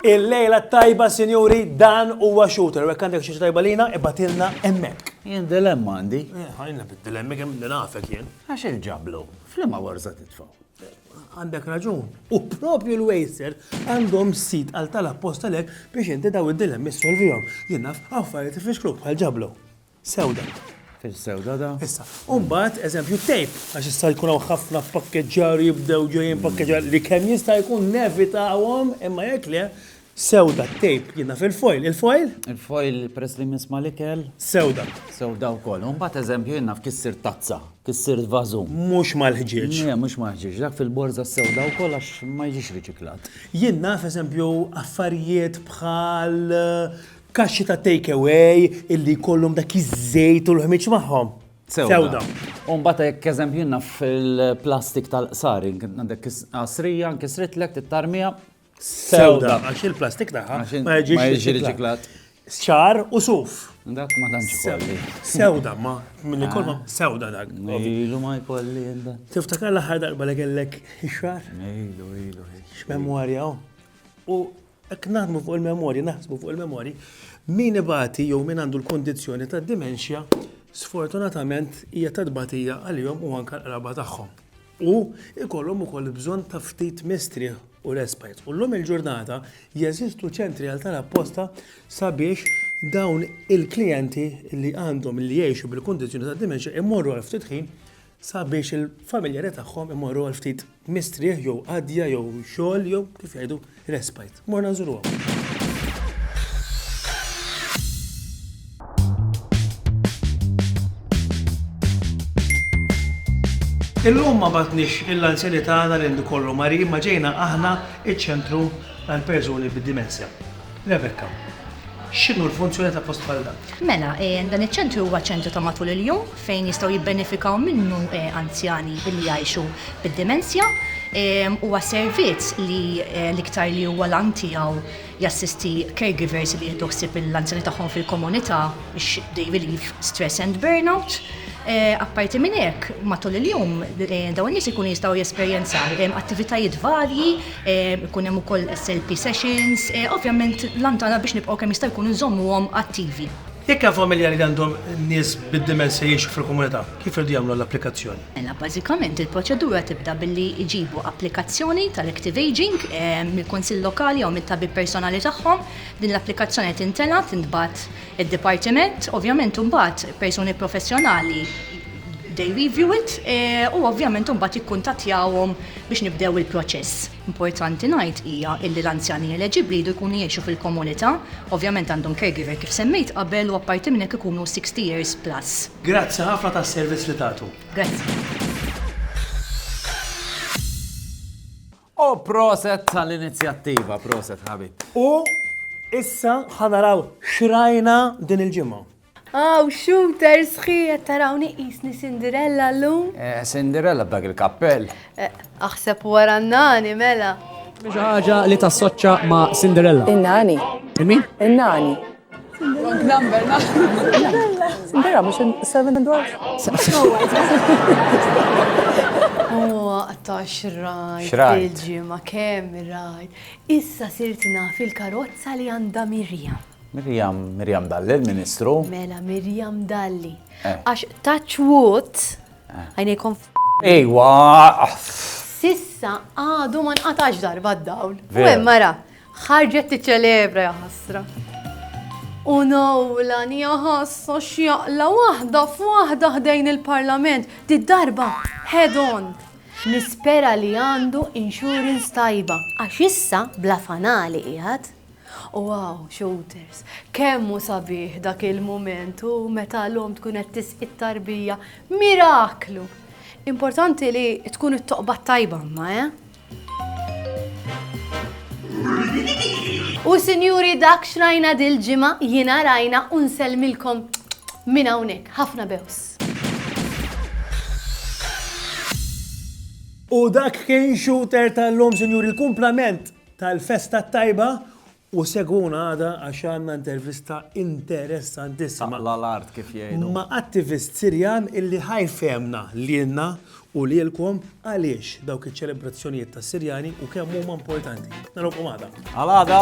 Il-lejla tajba, sinjuri, dan huwa shooter. Jekk għandek xi tajba lina, ibatilna hemmhekk. Jien dilemma għandi. Eh, ħajna bid-dilemmi kemm nafek jien. Għax il-ġablu, flimma warza titfaw. Għandek raġun. U propju l-wejser għandhom sit għal tal appostalek biex inti daw id-dilemmi solvijom. Jinnaf, għaffariet ifixklu bħal ġablu. Sewda. Fil-sewda da. Issa, umbat, eżempju, tejp, għax issa jkun għaw ħafna pakkeġġar jibdew ġejjin pakkeġġar li kemm jista' jkun nevita għawom, imma jek le, Sewda t-tejp jiena fil-foil. Il-foil? Il-foil peress li misma l-ikel. Sewda. Sewda wkoll. U mbagħad eżempju jiena naf kif sirt tazza, kif sirt vażu. Mhux mal-ħġieġ. Le, mhux mal-ħġieġ. Dak fil-borża sewda wkoll għax ma jiġix riċiklat. Jien naf eżempju affarijiet bħal kaxxi ta' take away illi jkollhom dak iż-żejt u l-ħmieġ magħhom. Sewda. U mbagħad hekk eżempju jiena fil-plastik tal-qsari, għandek qasrija nkisritlek tittarmija Sewda. Għax il-plastik tagħha ma jiġix riċiklat. Ċar u suf. Dak ma tantx kolli. Sewda, ma minn ikolma ah. sewda dak. Ilu ma jkolli jenda. Tiftakar l-aħħar darba li kellek ix-xar? Ilu, ilu. X'memorja hawn. U hekk naħdmu fuq il-memorji, naħsbu fuq il-memorji, min ibati jew min għandu l-kondizzjoni tad-dimensja, sfortunatament hija tadbatija għalihom u anke l-qraba tagħhom. u jkollhom ukoll bżonn ta' ftit mistrieħ u respite. U llum il-ġurnata jeżistu ċentri għal dan apposta sabiex dawn il-klijenti li għandhom li jgħixu bil-kundizzjoni ta' dementia imorru għal ftit ħin sabiex il-familjari tagħhom imorru għal ftit mistrieħ jew qadja jew xogħol jew kif jgħidu Respite. Morna Il-lum ma batnix il-lanzjani tagħna li kollu mari ma ġejna aħna iċ-ċentru għal persuni bid-dimensja. Rebecca, x'inhu l-funzjoni ta' post bħal dan? Mela, eh, dan iċ-ċentru huwa ċentru ta' matul il-jum fejn jistgħu jibbenefikaw minnu anzjani li jgħixu bid-dimensja. Huwa servizz li l-iktar li huwa l-għan tiegħu jassisti caregivers li jieħdu ħsieb l-anzjani tagħhom fil-komunità biex they relieve stress and burnout. Apparti minn hekk, matul il-jum dawn in-nies ikunu jistgħu jesperjenzaw attivitajiet varji, ikun hemm ukoll SLP sessions, ovvjament l-għan tagħna biex nibqgħu kemm jista' jkun inżommuhom attivi. Jekk hemm familja li għandhom nies bid-dimensja jgħixu fil-Komunità, kif iridu jagħmlu l-applikazzjoni? Mela bażikament il-proċedura tibda billi jġibu applikazzjoni tal-Active Ageing mill-Kunsill Lokali jew mit-tabib personali tagħhom. Din l-applikazzjoni tintela, tintbagħat id-Dipartiment. Ovvjament imbagħad persuni professjonali they review it u ovvjament imbagħad jikkuntattjawhom biex nibdew il-proċess. Importanti ngħid hija illi l-anzjani eleġibbli jridu jkunu jgħixu fil-komunità, ovvjament għandhom caregiver kif semmejt qabel u apparti minn hekk ikunu 60 years plus. Grazzi ħafna tas-servizz li tagħtu. U proset tal-inizjattiva, proset ħabib. U issa ħa naraw x'rajna din il-ġimgħa. Aw, shooter sħiħ qed tarawni qisni Cinderella llum? Eh, Cinderella b'dak il-kappell. Eh, aħseb wara n-nani mela. Xi ħaġa li tassoċċa ma' Cinderella. In-nani. Min? In-nani. Cinderella mhux seven dwarf. Huwa ta' xrajt. Xrajt. Il-ġimgħa kemm rajt. Issa sirt naf il-karozza li għandha Mirjam. Miriam, Miriam Dalli, l-Ministru. Mela Miriam Dalli. Eh. Għax touch wood, eh. għajnejkom f. Ejwa! Sissa għadu ma nqatax darba d-dawl. U hemm mara, ħarġet tiċċelebra ja ħasra. U nawla njaħassa xjaqla waħda f'waħda ħdejn il-parlament, di darba head on. Nispera li għandu insurance tajba, għax issa bla fanali qiegħed. Wow, Shooters! Kemm hu sabiħ dak il-mument u meta l-omm tkun qed tisqi t-tarbija, miraklu! Importanti li tkun it-toqba t-tajba imma, eh? U sinjuri dak xrajna dil-ġimgħa jiena rajna u nsellmilkom minn hawnhekk. Ħafna bews. U dak kien shooter tal-lum, sinjuri, l-kumplament tal-festa t-tajba u segwuna għada għax għandna intervista interessantissima. Taqla l-art kif jgħidu. Ma' attivist Sirjan illi ħajfemna lilna u lilkom għaliex dawk iċ-ċelebrazzjonijiet tas-Sirjani u kemm huma importanti. Narawkom għada. Għal għada.